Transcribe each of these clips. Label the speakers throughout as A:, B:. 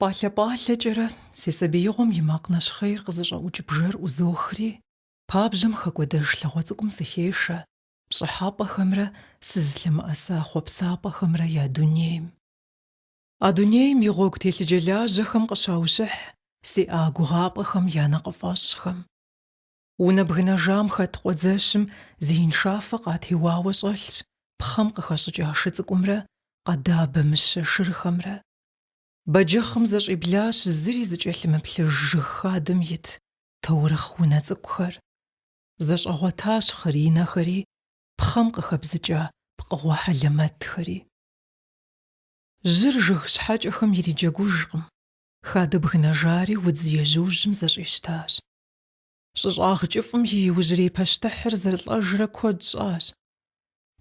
A: Пӏалъэ-пӏалъэкӏэрэ си сабиигъуэм и макъ нэщхъейр къызыщӏэӏукӏ бжэр ӏузохри, пабжьэм хэкӏуэдэж лъагъуэ цӏыкӏум сыхешэ, пщӏыхьэпӏэхэмрэ сызлъымыӏэса хъуэпсапӏэхэмрэ я дунейм. А дунейм и гъуэгу телъыджэлажьэхэм къыщаущыхь сиӏа гугъапӏэхэм я нэкъыфӏэщӏхэм. Унэ бгынэжам хэт къуэдзэщым зеиншафэ къатеуауэ щӏэлъщ пхъэм къыхэщӏыкӏа шы цӏыкӏумрэ къэдабэ мыщэ шырхэмрэ, Бэджыхъым зэщӏиблащ зыри зыкӏэлъымыплъыж жыг хадэм ит таурыхъ унэ цӏыкӏухэр. Зэщӏэгъуэтащ хъыринэхэри, пхъэм къыхэбзыкӏа пкъыгъуэ хьэлэмэтхэри. Жьыр жыг щхьэкӏэхэм ириджэгужкъым, хадэ бгынэжари удз ежьужьым зэщӏищтащ. Щӏыщӏагъ кӏыфӏым и иужьрей пащтыхьыр зэрылӏэжрэ куэд щӏащ.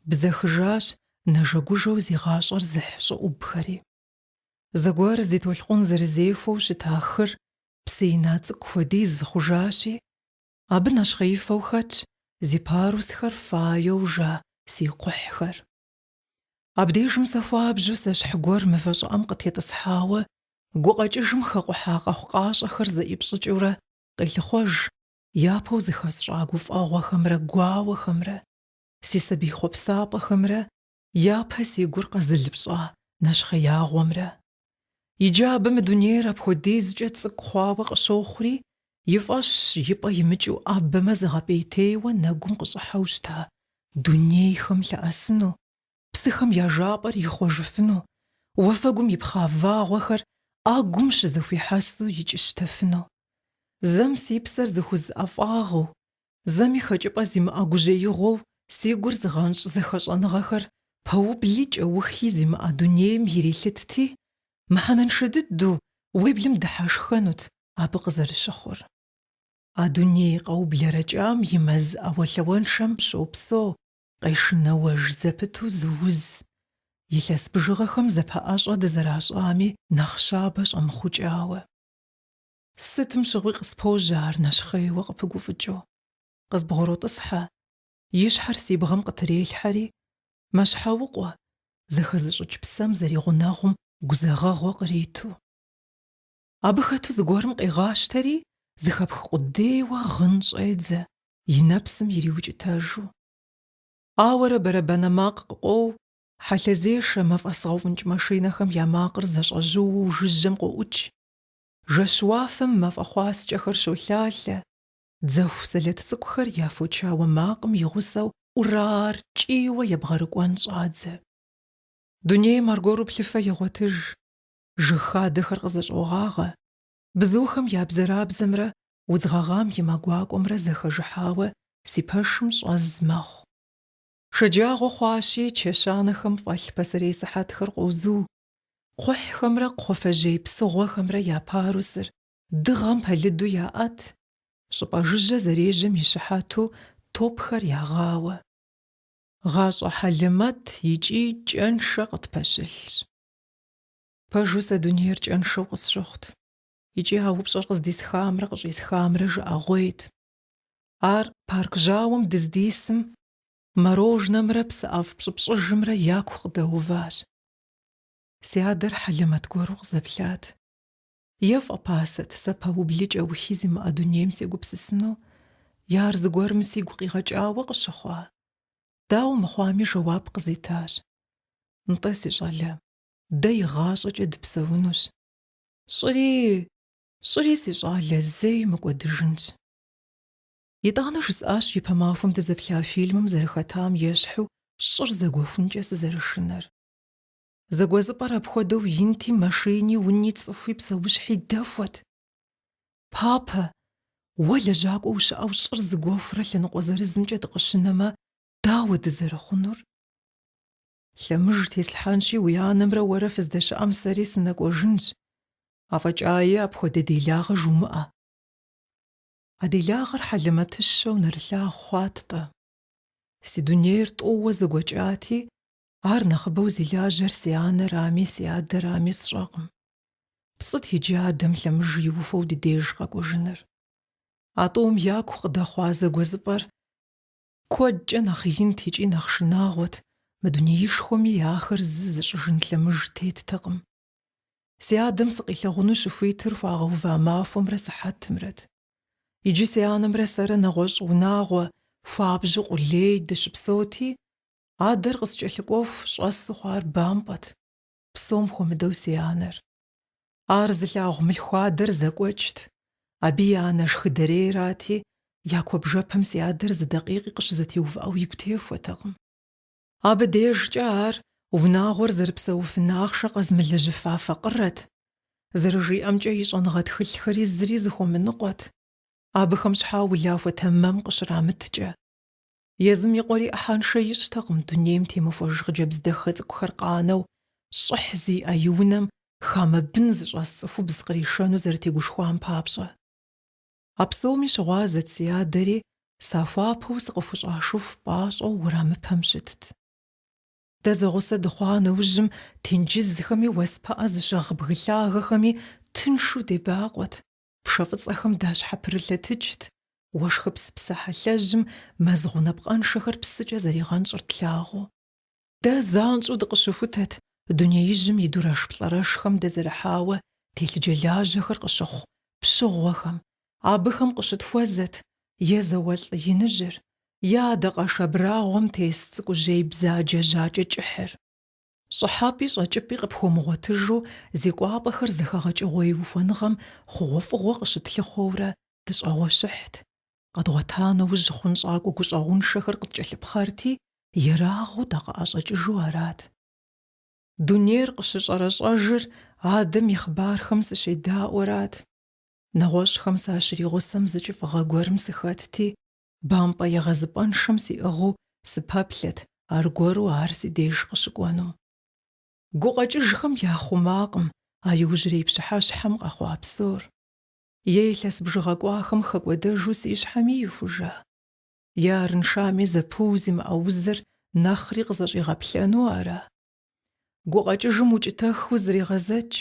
A: Бзэхыжащ нэжэгужэу зи гъащӏэр зыхь щӏыӏубхэри. Зэгуэр зи толъкъун зэрызехуэу щыта хыр псы ина цӏыкӏу хуэдиз хъужащи, абы нэщхъеифэу хэтщ зи парусхэр фаеу жа си кхъухьхэр. Абдежым сэ хуабжьу сэщхь гуэр мывэ щӏыӏэм къытетӏысхьауэ, гукъэкӏыжым хэкъухьа къэхъукъащӏэхэр зэӏипщӏыкӏыурэ къелъыхъуэж япэу зыхэсщӏа гуфӏэгъуэхэмрэ гуауэхэмрэ, си сабий хъуэпсапӏэхэмрэ япэ си гур къэзылыпщӏа нэщхъеягъуэмрэ. Иджы абы мы дунейр апхуэдизкӏэ цӏыкӏу хъуауэ къыщохъури, и фӏэщщ и пӏэ имыкӏыу ӏэбэмэ зыгъэпӏейтейуэ нэгум къыщӏыхьэу щыта дунейхэм лъэӏэсыну, псыхэм я жапӏэр ихъуэжыфыну, уафэгум ипхъа вагъуэхэр ӏэгум щызэхуихьэсу икӏыщтэфыну. Зэм си псэр зыхуз ӏэфӏагъыу, зэми хэкӏыпӏэ зимыӏэ гужьеигъуэу си гур зыгъэнщӏ зэхэщӏэныгъэхэр пэубли кӏэухи зимыӏэ дунейм ирилъытти, мыхьэнэншэ дыдэу уеблэм дыхьэшхэнут абы къызэрыщыхъур. А дуней къэублэрэкӏам и мэз ӏэуэлъауэншэм щопсэу къешынэуэж зэпыту зы уз. Илъэс бжыгъэхэм зэпэӏэщӏэ дызэращӏами, нэхъ щабэ щӏэмыхъукӏауэ. Сытым щыгъуи къыспожьэ ар нэщхъейуэ къыпыгуфӏыкӏыу. Къызбгъуротӏысхьэ. И щхьэр си бгъэм къытрелъхьэри, мэщхьэукъуэ, зэхэзыщӏыкӏ псэм зэригъунэгъум гузэгъэгъуэ къриту. Абы хэту зыгуэрым къегъащтэри, зыхэпх къудейуэ гъын щӏедзэ, и нэпсым ириукӏытэжу. Ауэрэ бэрэбанэ макъ къыкъуоу, хьэлъэзешэ, мафӏэсгъэуфӏынкӏ машинэхэм я макъыр зэщӏэжьууэу жыжьэм къоӏукӏ. Жэщ уафэм мафӏэ хъуаскӏэхэр щолъалъэ. Дзэху сэлэт цӏыкӏухэр я фочауэ макъым и гъусэу урар кӏийуэ ебгъэрыкӏуэн щӏадзэ. Дунейм аргуэру плъыфэ егъуэтыж. жыг хадэхэр къызэщӏогъагъэ, бзухэм я бзэрабзэмрэ удз гъэгъам и мэ гуакӏуэмрэ зэхэжыхьауэ си пэшым щӏэз мэхъу. Шэджагъуэ хъуащи, чэщанэхэм фӏэлъ пасэрей сыхьэтхэр къозу, кхъухьхэмрэ кхъуафэжьей псыгъуэхэмрэ я парусыр дыгъэм пэлыду яӏэт, щӏыпӏэ жыжьэ зэрежьэм и щыхьэту топхэр ягъауэ. Гъащӏэ хьэлэмэт икӏи кӏэншэ къытпэщылъщ. Пэжу сэ дунейр кӏэншэу къысщыхъут. Икӏи а упщӏэр къыздисхамрэ къыщӏисхамрэ жыӏэгъуейт. Ар парк жьауэм дыздисым морожнэмрэ псы ӏэфӏ пщӏыпщӏыжымрэ яку къыдэуващ. Си адэр хьэлэмэт гуэру къызэплъат. Е фӏэпасэт сэ пэубли кӏэухи зимыӏэ дунейм сегупсысыну, е ар зыгуэрым сигу къигъэкӏауэ къыщыхъуа? Дауэ мыхъуами жэуап къызитащ. Нтӏэ, си щӏалэ, дэ игъащӏэкӏэ дыпсэунущ. Щӏыри, щӏыри, си щӏалэ, зэи мыкӏуэдыжынщ. Итӏанэ жысӏащ ипэ махуэм дызэплъа фильмым зэрыхэтам ещхьу щӏыр зэгуэхункӏэ сызэрышынэр. Зэгуэзыпӏэр апхуэдэу инти, машини, уни, цӏыхуи, псэущхьи дэхуэт. Папэ, уэ лэжьакӏуэ ущыӏэу щӏыр зэгуэхурэ лъэныкъуэ зырызымкӏэ дыкъыщынэмэ, дауэ дызэрыхъунур? Лъэмыж теслъхьэнщи, уи анэмрэ уэрэ фыздэщыӏэм сэри сынэкӏуэжынщ. Афӏэкӏаи, апхуэдэ делагъэ жумыӏэ. А делагъэр хьэлэмэтыщэу нэрылъагъу хъуат-тӏэ. Си дунейр тӏууэ зэгуэкӏати, Ар нэхъыбэу зи лажьэр си анэрами, си адэрами сщӏэкъым. Пцӏыт иджы адэм лъэмыж иухуэу ди деж къэкӏуэжыныр. А тӏум яку къыдэхъуа зэгуэзыпӏэр куэдкӏэ нэхъ инт икӏи нэхъ шынагъуэт, мы дунеишхуэми ахэр зы зыщӏыжын лъэмыж теттэкъым. Си адэм сыкъилъагъуну щыхуитыр хуагъэува махуэмрэ сыхьэтымрэт. Иджы си анэмрэ сэрэ нэгъуэщӏ унагъуэ, хуабжьу къулей, дыщыпсэути, Адэр къыскӏэлъыкӏуэху щӏэсу хъуар бампӏэт, псом хуэмыдэу си анэр. Ар зылъагъу мылъхуадэр зэкӏуэкӏт, абы и анэ шхыдэрейрати, я куэбжэпэм си адэр зы дакъикъи къыщызэтеувыӏэу игу техуэтэкъым. Абы дежкӏэ ар унагъуэр зэрыпсэуфын ахъшэ къэзмылэжьыфа факъырэт, зэрыжиӏэмкӏэ и щӏэныгъэ тхылъхэри зыри зыхуэмыныкъуэт, абыхэм щхьа улахуэ тэмэм къыщрамыткӏэ. Езым и къуэри ӏыхьэншэ ищӏтэкъым дунейм темыхуэж хъыджэбз дахэ цӏыкӏухэр къанэу, щӏыхь зиӏэ и унэм хамэ бын зыщӏэс цӏыхубз къришэну зэрытегушхуам папщӏэ. А псоми щыгъуазэт си адэри, сахуапэу сыкъыхущӏашыху пӏащӏэу уэрамыпэм щытт. Дэ зэгъусэ дыхъуа нэужьым тенджызхэми уэс пыӏэ зыщыгъ бгы лъагэхэми тыншу дебакъуэт, Пшэ фӏыцӏэхэм дащхьэпрылъэтыкӏт, уэшхыпс псыхьэлъэжьым мэз гъунапкъэншэхэр псыкӏэ зэригъэнщӏыр тлъагъуу. Дэ занщӏэу дыкъыщыхутэт дунеижьым и дурэшплӏэрэшхэм дэзэрыхьауэ телъыджэлажьэхэр къыщыхъу пщыгъуэхэм, абыхэм къыщытхуэзэт е зауэлӏ иныжьыр, е адакъэш абрагъуэм тес цӏыкӏужьей бзаджэ жьакӏэ кӏыхьыр. Щӏыхьэпӏи щӏэкӏыпӏи къыпхуэмыгъуэтыжу зи кӏуапӏэхэр зэхэгъэкӏыгъуей ухуэныгъэм хъугъуэфӏыгъуэ къыщытлъыхъуэурэ дыщӏэгъуэщыхьт. Къэдгъуэта нэужь хъунщӏакӏуэ гущӏэгъуншэхэр къыткӏэлъыпхъэрти, ерагъыу дакъыӏэщӏэкӏыжу арат. Дунейр къыщыщӏэрэщӏэжыр адэм и хъыбархэм сыщедаӏуэрат. Нэгъуэщӏхэм сащригъусэм зы кӏыфӏыгъэ гуэрым сыхэтти, Бампӏэ егъэзыпӏэншэм сиӏыгъыу сыпэплъэт, аргуэру ар си деж къыщыкӏуэнум. Гукъэкӏыжхэм яхъумакъым а иужьрей пщыхьэщхьэм къэхъуа псор. Е илъэс бжыгъэ кӏуахэм хэкӏуэдэжу си щхьэми ихужа. Е арыншами зэпыу зимыӏэ узыр нэхъри къызэщӏигъэплъэну ара? Гукъэкӏыжым укӏытэхыу зрегъэзэкӏ,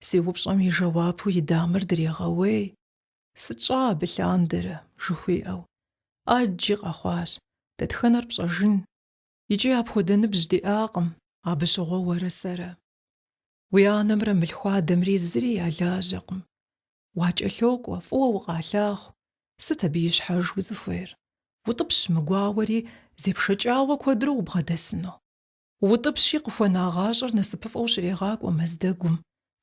A: си упщӏэм и жэуапу и дамэр дрегъэуей. Сыт щӏа абы лъандэрэ? жыхуиӏэу, ӏэджи къэхъуащ, Дэтхэнэр пщӏэжын? Икӏи апхуэдэ ныбжь диӏакъым, абы щыгъуэ уэрэ сэрэ. Уи анэмрэ мылъхуадэмри зыри ялажьэкъым. Уакӏэлъокӏуэ, фӏыуэ укъалъагъу, сыт абы ищхьэж узыхуейр? Утӏыпщ мы гуауэри, зепшэкӏауэ куэдрэ убгъэдэсыну. Утӏыпщи, къыхуэна гъащӏэр насыпыфӏэу щрегъакӏуэ мэз дэгум,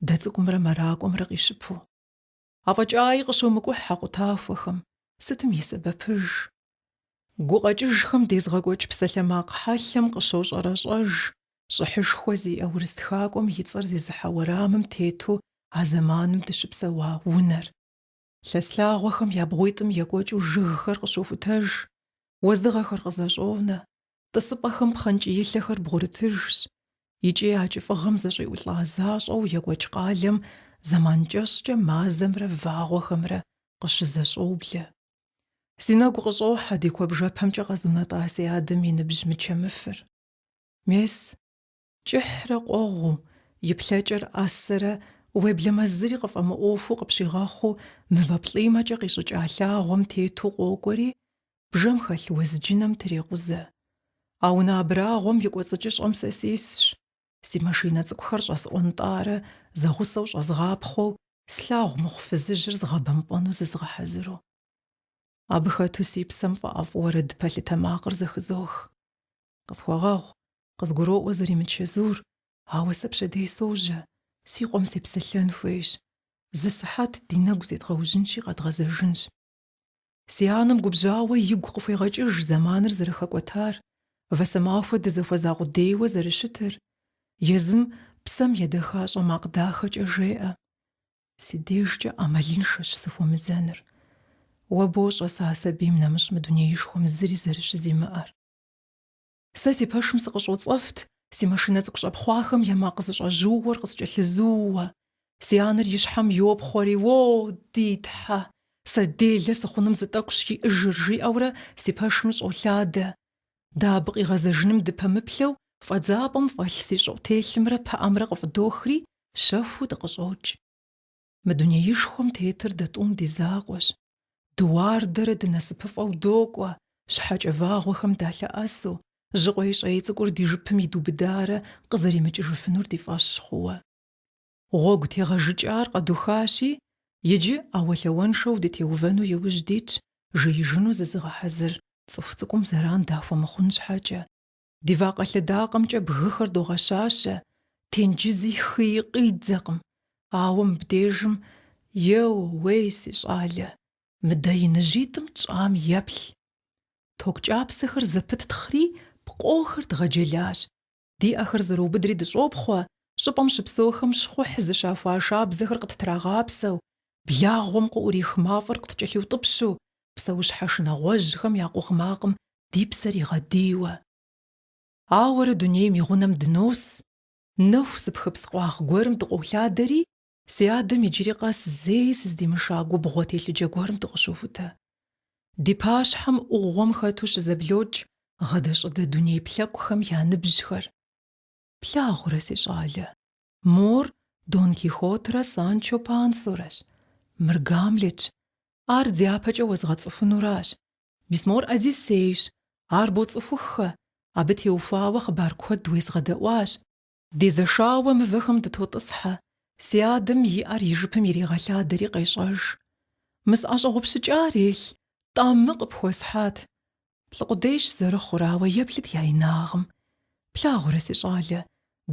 A: дэ цӏыкӏумрэ мэракӏуэмрэ къищыпу. Афӏэкӏаи къыщомыкӏухь а къутахуэхэм, сытым и сэбэпыж? Гукъэкӏыжхэм дезгъэкӏуэкӏ псалъэмакъ хьэлъэм къыщощӏэрэщӏэж щӏыхьышхуэ зиӏэ урыс тхакӏуэм и цӏэр зезыхьэ уэрамым тету а зэманым дыщыпсэуа унэр. Лъэс лъагъуэхэм я бгъуитӏым екӏуэкӏыу жыгхэр къыщохутэж, уэздыгъэхэр къызэщӏонэ, Тӏысыпӏэхэм пхъэнкӏиилъэхэр бгъурытыжщ икӏи а кӏыфӏыгъэм зэщӏиӏулӏа защӏэу екӏуэкӏ къалэм зэман кӏэщӏкӏэ мазэмрэ вагъуэхэмрэ къыщызэщӏоблэ. Си нэгу къыщӏохьэ ди куэбжэпэмкӏэ къэзунэтӏа си адэм и ныбжь мычэмыфыр. Мес, Кӏыхьрэ къуэгъуу, и плъэкӏэр ӏэсэрэ уеблэмэ зыри къыфӏэмыӏуэхуу къыпщигъэхъуу мывэ плӏимэкӏэ къищӏыкӏа лъагъуэм тету къокӏуэри, бжэм хэлъ уэзджынэм трекъузэ. А унэ абрагъуэм и кӏуэцӏыкӏыщӏэм сэ сисщ, си машинэ цӏыкӏухэр щӏэсӏуэнтӏарэ зэгъусэу щӏэзгъапхъуэу слъагъу мыхъу фызыжьыр згъэбэмпӏэну зызгъэхьэзыру. Абы хэту си псэм фӏэӏэфӏу уэрэд пэлъытэ макъыр зэхызох. Къысхуэгъэгъу, къызгуроӏуэ зэримычэзур, ауэ сэ пщэдей сожьэ, си къуэм сепсэлъэн хуейщ. Зы сыхьэт ди нэгу зедгъэужьынщи, къэдгъэзэжынщ. Си анэм губжьауэ игу къыхуегъэкӏыж зэманыр зэрыхэкӏуэтар, вэсэмахуэ дызэхуэза къудейуэ зэрыщытыр. Езым псэм едэхащӏэ макъ дахэкӏэ жеӏэ. Си дежкӏэ ӏэмалыншэщ сыхуэмызэныр. Уэ бощӏэ сэ а сабийм нэмыщӏ мы дунеишхуэм зыри зэрыщызимыӏэр. Сэ си пэшым сыкъыщӏоцӏэфт, си машинэ цӏыкӏу щӏэпхъуахэм я макъ зэщӏэжьыуэр къыскӏэлъызууэ. Си анэр и щхьэм йопхъуэри, О, ди Тхьэ! Сэ делэ сыхъуным зы тӏэкӏущ иӏэжыр, жиӏэурэ си пэшым щӏолъадэ. Дэ абы къигъэзэжыным дыпэмыплъэу, фӏэдзапӏэм фӏэлъ си щӏыӏутелъымрэ пыӏэмрэ къыфӏыдохри, щэхуу дыкъыщӏокӏ. Мы дунеишхуэм тетыр дэ тӏум ди закъуэщ. Дыуардэрэ дынасыпыфӏэу докӏуэ, щхьэкӏэ вагъуэхэм далъэӏэсу, жьы къуейщӏей цӏыкӏур ди жыпым идубыдарэ къызэримыкӏыжыфынур ди фӏэщ хъууэ. Гъуэгу тегъэжыкӏар къэдухащи, иджы ӏэуэлъауэншэу дытеувэну иужь дитщ жеижыну зызыгъэхьэзыр цӏыху цӏыкӏум зэран дахуэмыхъун щхьэкӏэ. Ди вакъэ лъэдакъэмкӏэ бгыхэр догъэщащэ, тенджызи хыи къиддзэкъым, ауэ мыбдежым, еууей, си щӏалэ, мыдэ иныжьитӏым тщӏам еплъ. Ток кӏапсэхэр зэпыттхъри, пкъохэр дгъэджэлащ. Ди ӏэхэр зэрыубыдри дыщӏопхъуэ, щӏыпӏэм щыпсэухэм щхъухь зыщахуа шабзэхэр къыттрагъапсэу, благъуэм къыӏурих мафӏэр къыткӏэлъиутӏыпщу, псэущхьэ шынагъуэжьхэм я къугъ макъым ди псэр игъэдийуэ. Ауэрэ дунейм и гъунэм дынос, нэху зыпхыпс къуагъ гуэрым дыкъолъадэри, си адэм иджыри къэс зэи сыздимыша губгъуэ телъыджэ гуэрым дыкъыщохутэ. Ди пащхьэм ӏугъуэм хэту щызэблокӏ гъэдэщӏыдэ дуней плъэкӏухэм я ныбжьхэр. Плъагъурэ, си щӏалэ. Мор Дон Кихотрэ Санчо Пансорэщ, мыр Гамлетщ, ар дяпэкӏэ уэзгъэцӏыхунуращ, мис мор Одиссейщ, ар боцӏыхуххэ, абы теухуауэ хъыбар куэд уезгъэдэӏуащ. Дезэшауэ мывэхэм дытотӏысхьэ, си адэм и ӏэр и жыпым иригъэлъадэри къещӏэж. Мы сӏэщӏэгъупщыкӏар елъ, тӏамы къыпхуэсхьат. Плӏы къудейщ зэрыхъур, ауэ еплъыт я инагъым. Плъагъурэ, си щӏалэ,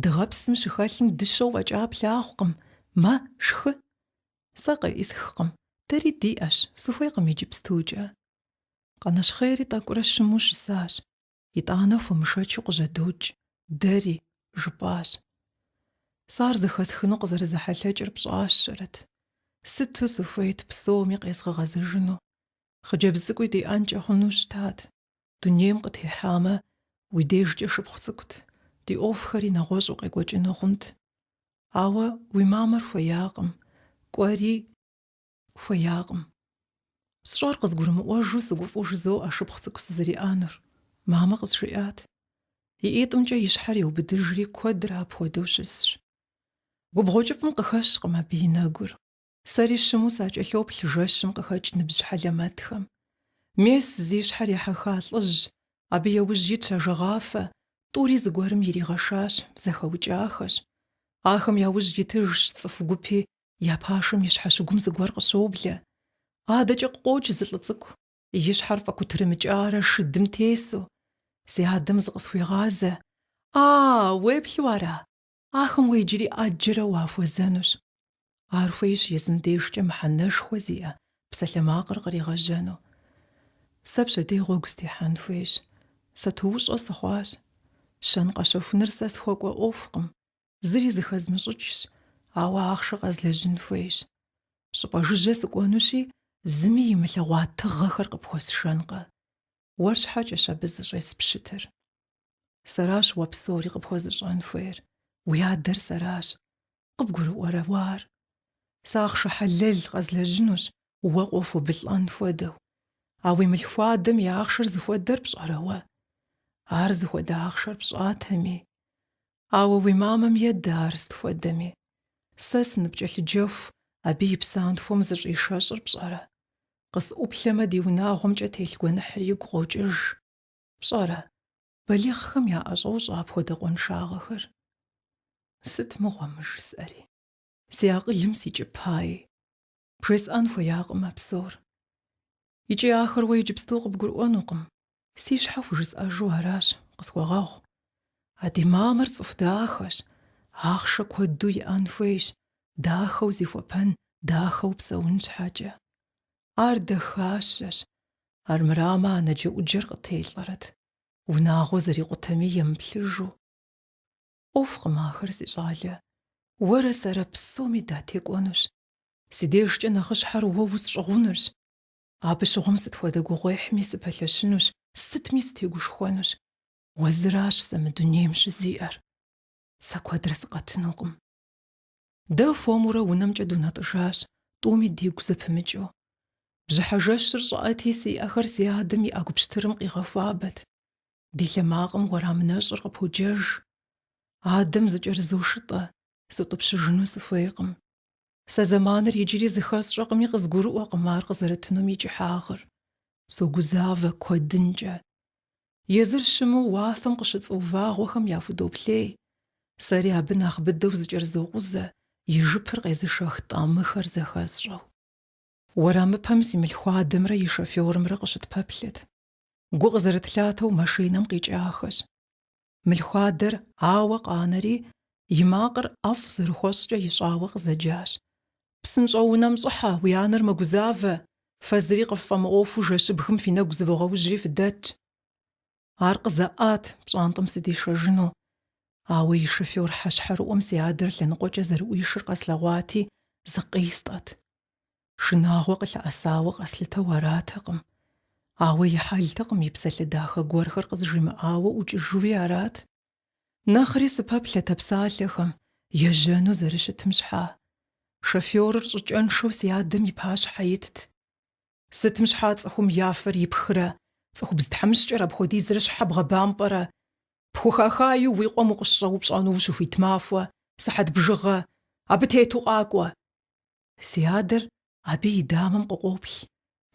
A: дыгъэпсым щыхэлъым дыщэу фӏэкӏа плъагъукъым, мэ, шхы. Сэ къеӏысхкъым, дэри диӏэщ, сыхуейкъым иджыпстукӏэ. Къанэщхъейри тӏэкӏурэ щыму щысащ, итӏанэ хуэмышэчу къыжьэдокӏ, дэри, жыпӏащ. Сэ ар зэхэсхыну къызэрызэхьэлъэкӏыр пщӏащэрэт. Сыту сыхуейт псоми къезгъэгъэзэжыну. Хъыджэбз цӏыкӏуи диӏэнкӏэ хъуну щытат. Дунейм къытехьамэ, уи дежкӏэ шыпхъу цӏыкӏут, ди ӏуэхухэри нэгъуэщӏу къекӏуэкӏыну хъунт. Ауэ уи мамэр хуеякъым, кӏуэри хуеякъым. Сщӏэр къызгурымыӏуэжу сыгуфӏу жызоӏэ шыпхъу цӏыкӏу сызэриӏэнур. Мамэ къызжиӏат. И ӏитӏымкӏэ и щхьэр еубыдыжри куэдрэ апхуэдэу щысщ. Губгъуэ кӏыфӏым къыхэщкъым абы и нэгур. Сэри щыму сакӏэлъоплъ жэщым къыхэкӏ ныбжь хьэлэмэтхэм. Мес зи щхьэр ехьэха лӏыжь, абы яужь итщ ажэгъафэ, тӏури зыгуэрым иригъэшащ, зэхэукӏахэщ. Ахэм яужь итыжщ цӏыху гупи, я пашэм и щхьэщыгум зыгуэр къыщоблэ. Адэкӏэ къыкъокӏ зы лӏы цӏыкӏу, и щхьэр фӏэкутырымыкӏарэ шыдым тесу. Си адэм зыкъысхуегъазэ, А, уеплъу ара? Ахэм уэ иджыри ӏэджэрэ уахуэзэнущ. Ар хуейщ езым дежкӏэ мыхьэнэшхуэ зиӏэ псалъэмакъыр къригъэжьэну. Сэ пщэдей гъуэгу стехьэн хуейщ. Сатуущӏэ сыхъуащ. Щэн къэщэхуныр сэ схуэкӏуэ ӏуэхукъым, зыри зыхэзмыщӏыкӏщ, ауэ ахъшэ къэзлэжьын хуейщ. Щӏыпӏэ жыжьэ сыкӏуэнущи, зыми имылъэгъуа тыгъэхэр къыпхуэсшэнкъэ. Уэр щхьэкӏэщ абы зыщӏеспщытыр. Сэращ уэ псори къыпхуэзыщӏэн хуейр, уи адэр сэращ. Къыбгурыӏуэрэ уэ ар? Сэ ахъшэ хьэлэл къэзлэжьынущ, уэ къохуэбылӏэн хуэдэу. А уи мылъхуадэм и ахъшэр зыхуэдэр пщӏэрэ уэ? Ар зыхуэдэ ахъшэр пщӏатэми. Ауэ уи мамэм едэ ар сыт хуэдэми. Сэ сыныпкӏэлъыджэху, абы и псантхуэм зыщӏишэщӏыр пщӏэрэ? Къысӏуплъэмэ, ди унагъуэмкӏэ телъ гуэныхьыр игу къокӏыж. Пщӏэрэ, балигъхэм яӏэщӏощӏэ апхуэдэ къуаншагъэхэр? Сыт мыгъуэ мы жысӏэри? Си акъылым сикӏыпаи, бжесӏэн хуеякъым а псор. Икӏи ахэр уэ иджыпсту къыбгурыӏуэнукъым, си щхьэ хужысӏэжу аращ, къысхуэгъэгъу. А ди мамэр цӏыху дахэщ, ахъшэ куэду иӏэн хуейщ, дахэу зихуэпэн, дахэу псэун щхьэкӏэ. Ар дахащэщ, Армырамэ, анэджэӏуджэр къытелӏэрэт, унагъуэ зэрикъутэми емыплъыжу. ӏуэхукъым ахэр, си щӏалэ, уэрэ сэрэ псоми датекӏуэнущ, си дежкӏэ нэхъыщхьэр уэ усщӏыгъунырщ, абы щыгъуэм сыт хуэдэ гугъуехьми сыпэлъэщынущ, сытми сытегушхуэнущ, уэ зыращ сэ мы дунейм щызиӏэр. Сэ куэдрэ сыкъэтынукъым. Дэ хуэмурэ унэмкӏэ дунэтӏыжащ, тӏуми дигу зэпымыкӏыу. Бжьыхьэ жэщыр щӏыӏэти, си ӏэхэр си адэм и ӏэгу пщтырым къигъэхуабэт. Ди лъэмакъым уэрам нэщӏыр къыподжэж. Адэм зыкӏэрызошытӏэ, сутӏыпщыжыну сыхуейкъым. Сэ зэманыр иджыри зыхэсщӏэкъыми, къызгурыӏуэкъым ар къызэрытынум и кӏыхьагъыр. Согузавэ куэдынкӏэ. Езыр щыму уафэм къыщыцӏуу вагъуэхэм яхудоплъей, сэри абы нэхъ быдэу зыкӏэрызокъузэ, и жыпыр къезышэх тӏамыхэр зэхэсщӏэу. Уэрамыпэм си мылъхуадэмрэ и шофёрымрэ къыщытпэплъэт. Гу къызэрытлъатэу машинэм къикӏахэщ. Мылъхуадэр ауэ къанэри, и макъыр ӏэфӏ зэрыхуэщӏкӏэ ищӏауэ къызэджащ, Псынщӏэу унэм щӏыхьэ, уи анэр мэгузавэ, фэ зыри къыффӏэмыӏуэхуу жэщыбгым фи нэгу зывогъэужьри фыдэтщ. Ар къызэӏат пщӏантӏэм сыдишэжыну. Ауэ и шофёр хьэщхьэрыӏуэм си адэр лъэныкъуэкӏэ зэрыӏуишыр къэслъэгъуати, зыкъистӏэт. Шынагъуэ къылъэӏэсауэ къэслъытэу аратэкъым. Ауэ и хьэлтэкъым и псалъэ дахэ гуэрхэр къызжимыӏауэ ӏукӏыжуи арат. Нэхъри сыпэплъэт а псалъэхэм, ежьэну зэрыщытым щхьа. Шофёрыр щӏыкӏэншэу си адэм и пащхьэ итт. Сытым щхьа цӏыхум я фэр ипхрэ, цӏыхубз тхьэмыщкӏэр апхуэдизрэ щхьэ бгъэбампӏэрэ? Пхухахаи уи къуэм укъыщӏэупщӏэну ущыхуит махуэ, сыхьэт бжыгъэ, абы тету къакӏуэ. Си адэр абы и дамэм къыкъоплъ,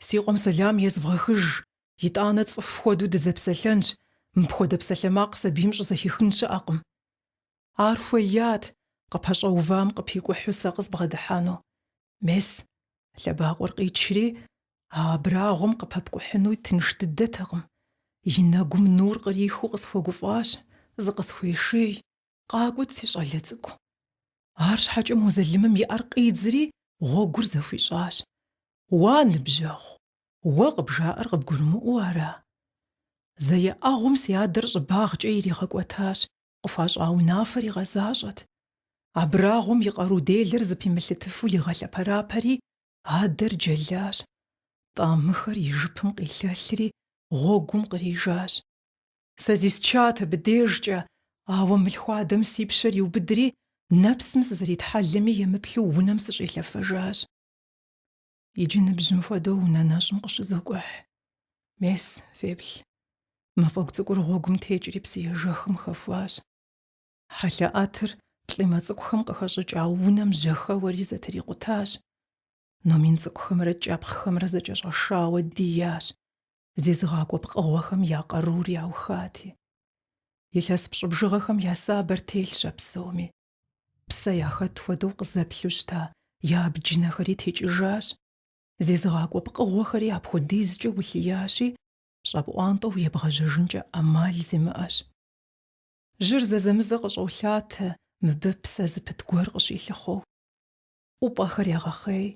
A: си къуэм сэлам езвгъэхыж, итӏанэ цӏыху хуэдэу дызэпсэлъэнщ, мыпхуэдэ псалъэмакъ сабийм щӏызэхихын щыӏэкъым. Ар хуеят, къыпэщӏэувам къыпикӏухьу сэ къызбгъэдыхьэну. Мес, лъэбакъуэр къичри, а абрагъуэм къыпэпкӏухьыну тынш дыдэтэкъым. И нэгум нур кърихыу къысхуэгуфӏащ, зыкъысхуеший. Къакӏуэт, си щӏалэ цӏыкӏу. Арщхьэкӏэ мо залымым и ӏэр къидзри, гъуэгур зэхуищӏащ. Уа, ныбжьэгъу, уэ къыбжаӏэр къыбгурымыӏуэу ара? Зэ еӏэгъуэм си адэр щӏыбагъкӏэ иригъэкӏуэтащ, къыхуащӏа унафэр игъэзащӏэт. Абрагъуэм и къару делэр зыпимылъытыфу игъэлъэпэрапэри, адэр джэлащ. Тӏамыхэр и жыпым къилъэлъри, гъуэгум кърижащ. Сэ зисчат абы дежкӏэ, ауэ мылъхуадэм си пщэр иубыдри, нэпсым сызэритхьэлэми емыплъу унэм сыщӏилъэфэжащ. Иджы ныбжьым хуэдэу унэ нэщӏым къыщызокӏухь. Мес, феплъ. Мафӏэгу цӏыкӏур гъуэгум текӏри псыежэхым хэхуащ. Хьэлъэӏэтыр плӏимэ цӏыкӏухэм къыхэщӏыкӏа унэм жьэхэуэри зэтрикъутащ. Номин цӏыкӏухэмрэ кӏэпхъхэмрэ зэкӏэщӏэшауэ диящ. зезыгъакӏуэ пкъыгъуэхэм я къарур яухати. Илъэс пщӏы бжыгъэхэм я сабэр телъщ а псоми. Псэ яхэт хуэдэу къызэплъу щыта я абджынэхэри текӏыжащ, зезыгъакӏуэ пкъыгъуэхэри апхуэдизкӏэ улъиящи, щӏэпӏуантӏэу ебгъэжьэжынкӏэ ӏэмал зимыӏэщ. Жьыр зэзэмызэ къыщӏолъатэ мыбы псэ зыпыт гуэр къыщилъыхъуэу. ӏупӏэхэр ягъэхъей,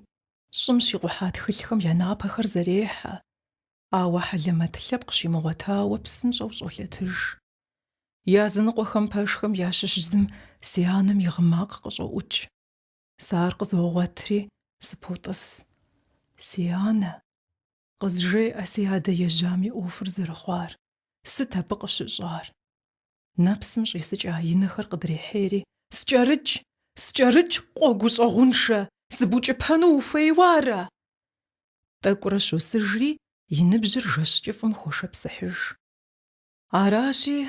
A: щӏым щикъухьа тхылъхэм я напэхэр зэрехьэ, ауэ хьэлэмэт лъэпкъ щимыгъуэтауэ псынщӏэу щӏолъэтыж. Языныкъуэхэм пэшхэм ящыщ зым си анэм и гъы макъ къыщӏоӏукӏ. Сэ ар къызогъуэтри, сыпотӏыс. Си анэ! Къызжеӏэ си адэ ежьам и ӏуэхур зэрыхъуар, сыт абы къыщыщӏар. Нэпсым щӏисыкӏа и нэхэр къыдрехьейри, Скӏэрыкӏ, скӏэрыкӏ, къуэ гущӏэгъуншэ, сыбукӏыпэну ухуейуэ ара? Тӏэкӏурэ щосыжри, и ныбжьыр жэщ кӏыфӏым хошыпсыхьыж. Аращи,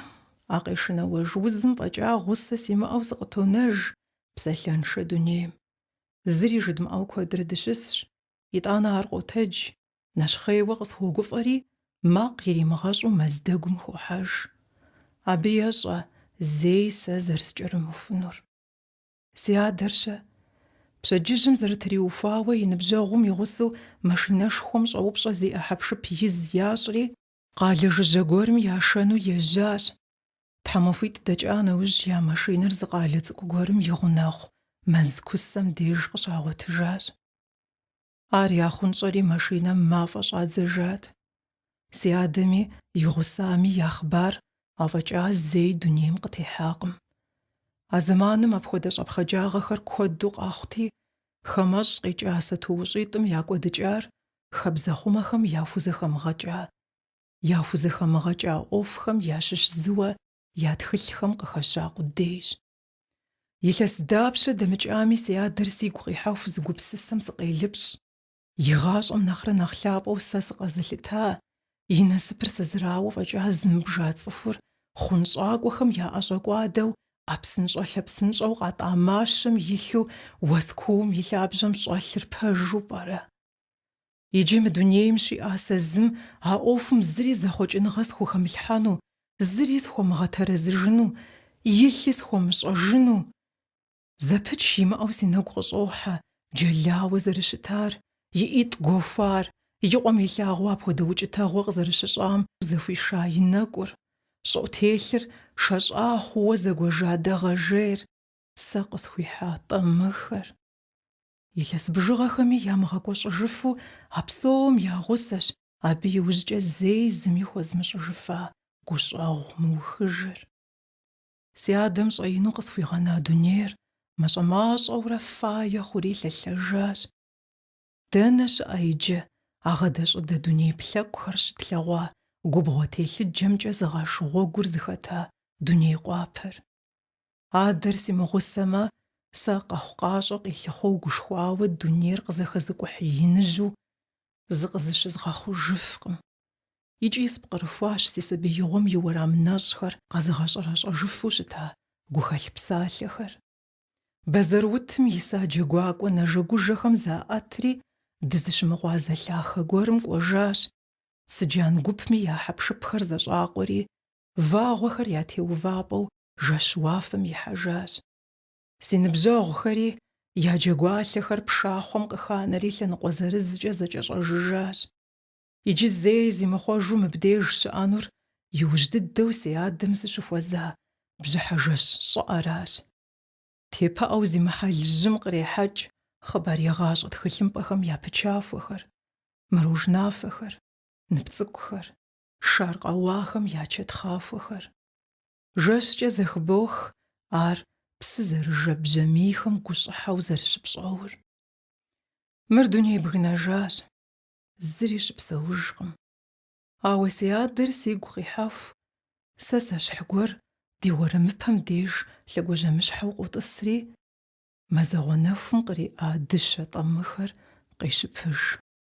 A: а къешынауэж узым фӏэкӏа гъусэ симыӏэу сыкъытонэж псалъэншэ дунейм. Зыри жыдмыӏэу куэдрэ дыщысщ, Итӏанэ ар къотэдж, нэщхъейуэ къысхуогуфӏэри, макъ иримыгъэщӏу мэз дэгум хохьэж. Абы ещӏэ зэи сэ зэрыскӏэрымыхунур. Си адэр-щэ? Пщэдджыжьым зэрытриухуауэ и ныбжьэгъум и гъусэу машинэшхуэм щӏэупщӏэ зиӏэ хьэпшып из ящӏри, Къалэ жыжьэ гуэрым яшэну ежьащ. Тхьэмахуитӏ дэкӏа нэужь я машинэр зы къалэ цӏыкӏу гуэрым и гъунэгъу мэз кусэм деж къыщагъуэтыжащ. Ар яхъунщӏэри машинэм мафӏэ щӏадзэжат. Си адэми, и гъусами я хъыбар афӏэкӏа зэи дунейм къытехьакъым. А зэманым апхуэдэ щӏэпхъаджагъэхэр куэду къэхъути, хамэщӏ къикӏа сатуущӏитӏым я кӏуэдыкӏар Хабзэхъумэхэм яхузэхэмыгъэкӏа, яхузэхэмыгъэкӏа ӏуэхухэм ящыщ зыуэ я тхылъхэм къыхэща къудейщ. Илъэс дапщэ дэмыкӏами си адэр сигу къихьэху зы гупсысэм сыкъелыпщӏ, и гъащӏэм нэхърэ нэхъ лъапӏэу сэ сыкъэзылъыта, и насыпыр сэ зырауэ фӏэкӏа зымыбжа цӏыхур хъунщӏакӏуэхэм яӏэщӏэкӏуадэу ӏэпсынщӏэ-лъэпсынщӏэу къатӏа мащэм илъу уэс куум и лъабжьэм щӏэлъыр пэжу пӏэрэ? Иджы мы дунейм щиӏа сэ зым а ӏуэхум зыри зэхъуэкӏыныгъэ схухэмылъхьэну, зыри схуэмыгъэтэрэзыжыну, илъи схуэмыщӏэжыну. Зэпыч имыӏэу си нэгу къыщӏохьэ Джэлауэ зэрыщытар, и ӏитӏ гуэхуар, и къуэм илъагъуу апхуэдэ укӏытэгъуэ къызэрыщыщӏам зэхуиша и нэкӏур, щӏыӏутелъыр шэщӏа хъууэ зэгуэжа дэгъэжейр, сэ къысхуихьа тӏэмыхэр. Илъэс бжыгъэхэми ямыгъэкӏуэщӏыжыфу а псом я гъусэщ абы иужькӏэ зэи зыми хуэзмыщӏыжыфа гущӏэгъу мыухыжыр. Си адэм щӏэину къысхуигъэна дунейр мащӏэ-мащӏэурэ фае хъури лъэлъэжащ. Дэнэ щыӏэ иджы а гъэдэщӏыдэ дуней плъэкӏухэр щытлъэгъуа губгъуэ телъыджэмкӏэ зыгъэш гъуэгур зыхэта дуней къуапэр? Адэр симыгъусэмэ, сэ къэхъукъащӏэ къилъыхъуэу гушхуауэ дунейр къызэхэзыкӏухь иныжьу зыкъызыщызгъэхъужыфкъым. Икӏи спкърыхуащ си сабиигъуэм и уэрам нэщӏхэр къэзыгъэщӏэрэщӏэжыфу щыта гухэлъ псалъэхэр. Бэзэрыутым иса джэгуакӏуэ нэжэгужэхэм заӏэтри, дызыщымыгъуазэ лъахэ гуэрым кӏуэжащ. Цыджан гупми я хьэпшыпхэр зэщӏакъуэри, вагъуэхэр я теувапӏэу жэщ уафэм ихьэжащ. Си ныбжьэгъухэри, я джэгуалъэхэр пшахъуэм къыханэри лъэныкъуэ зырызкӏэ зэкӏэщӏэжыжащ. Иджы зэи зимыхъуэжу мыбдеж щыӏэнур иужь дыдэу си адэм сыщыхуэза бжьыхьэ жэщ щӏыӏэращ. Тепыӏэу зи мыхьэл жьым кърехьэкӏ хъыбарегъащӏэ тхылъымпӏэхэм я пычахуэхэр, мыружнафэхэр, нып цӏыкӏухэр, шар къэуахэм я чэтхъахуэхэр. Жэщкӏэ зэхыбох ар псы зэрыжэ бжьамийхэм гущӏыхьэу зэрыщыпщӏэур. Мыр дуней бгынэжащ. зыри щыпсэужкъым. Ауэ си адэр сигу къихьэху, сэ сэщхь гуэр ди уэрэмыпэм деж лъэгуажьэмыщхьэу къотӏысри, мазэгъуэ нэхум къриӏа дыщэ тӏэмыхэр къещыпыж.